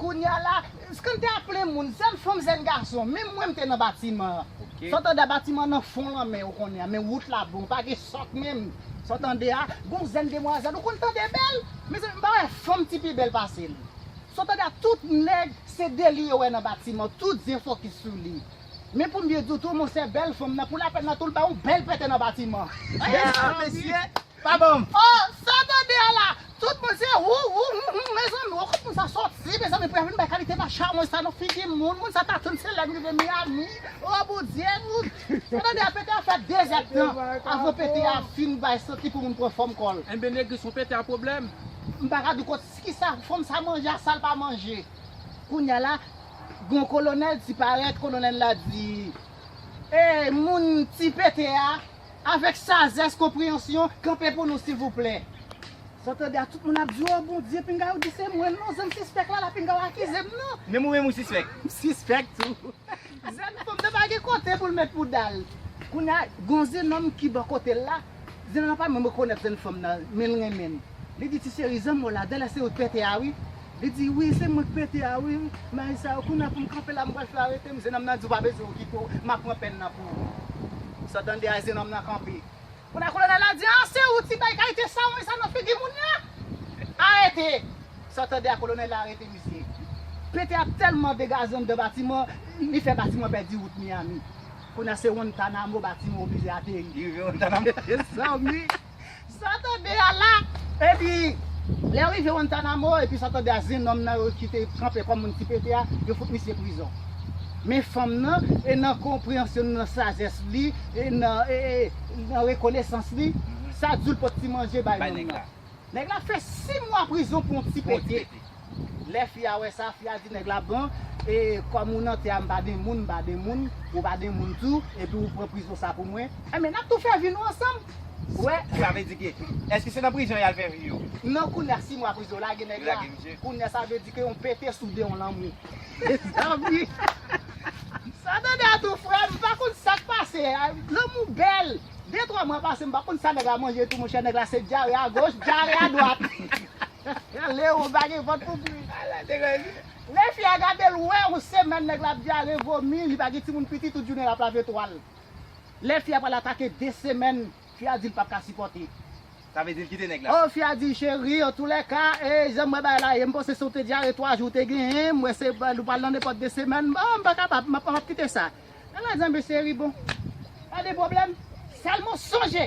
Kounya la, scan te ap plen moun, zen fanm zen gason, menm mwen m te nan batiman an. Sa w tande a batiman an nan fon lanmè ou konnen an, men wout la bon, pa gen sòt menm. Sa w tande a, gon zen demwazèl ou konn tande bèl, mezanmi m pa wè fanm ti pi bèl pase l. Sa w tande a, tout nèg se Dely yo wè nan batiman an, tout je fokis sou li. Men pou m byen di w tou, monchè bèl fanm nan pou lapèn nan tou l ba yon bèl pète nan batiman an. Mesye! Pa bon. Oh sa tande a la tout moun se wou wou humm humm mezanmi oh kot moun sa soti mezanmi pou ya vin bay kalite va chawony sa nan figi moun moun sa ta tann se lèm rive Miami oh bondye moun sa tande a pete a fè 2 zè tan avan pete a fin bay santi pou moun pran fòm kòl. Enben negri son pete a pwoblèm. M paka di kot ki sa fanm sa manje a sal pa manje. Kounya la Gon kolonel ti parèt kolonel la di Eey moun ti pete a. Avèk sajès, konpreyansyon, kanpe pou nou silvouplè. Sa w tande a tout moun ap di w oh Bondye pinga ou di se mwen non zen m sispèk la la pinga w akize m non. Menm ou menm ou sispèk. M sispèk tou. Zen fanm nan pa gen kote pou l met bouda l. Kounye a gon zenòm ki bò kote l la, zenòm nan pa menm rekonèt zen fanm nan men l renmen l. Li di ti cheri zanmi w la dèlè se ou t pète a wi. Li di wi se mwen k pete a wi may sa yo kounya poum kanpe la m pral fè yo aretem zen nòm nan di ou pa bezwen ou kite w map pran pèn nan pou ou sa w tande a zen nòm nan kanpe kounya kolonèl la di an se ou ti bay kalite sawony sa nan figi moun nan arete sa w tande a kolonèl la arete misye pete a tèlman degaje anndan batiman li fè batiman pèdi wout miyami kounya se wontanamo batiman oblije ateri rive wontanamo mesye sa w ui. Santonde a la, epi lè yo rive Wantanamo, epi Santonde a zen nonm nan yo ki te kanpe kòm moun ki pete a, yo fout misye prizon. Men fanm nan, e nan konpreyansyon li, nan sajès li, e nan rekonesans li, sa di w li pot ti manje bay nonm nan. Nèg la fè 6 mwa prizon pou yon ti pete. Lè fi a wè sa, fi a di nèg la bon e kòm ou nan tè a m pa gen moun, m pa gen moun, ou pa gen moun tou, epi ou pran prizon sa pou mwen, enben n ap tou fè vi nou ansanm. Ou wè? Sa vle di ke, èske se nan prizon y al fè vi yo? Non kounye a si mwa prizon yo lage nèg la, kounye a sa vle di ke yon pete soude yon lanmou. Mezanmi! Sa w tande a tou frè m, m pa konn sa k pase, lanmou bèl, de twa mwa pase m pa konn sa nèg la manje tou monchè, nèg la se dyare agoch, dyare adwat. Leron pa gen vant pou bri. Ala degaje. Lè fi a gadel ou wè ou semèn nèg la ap dyare vomi li pa gen timoun piti tout jounen lap lave twal lè fi a pral atake 2 semèn fi a dil pap ka sipòte Sa vle dil kite nèg la. Oh fi a di cheri antoulèka ee janm wè bagay la ye mpanse se ou te dyare 3 jou ou te genyen m wè se ou pral nan nenpòt 2 semèn oh mpa kapab map kite sa Nèg la di anben cheri bon pa de pwoblèm sèlman sonje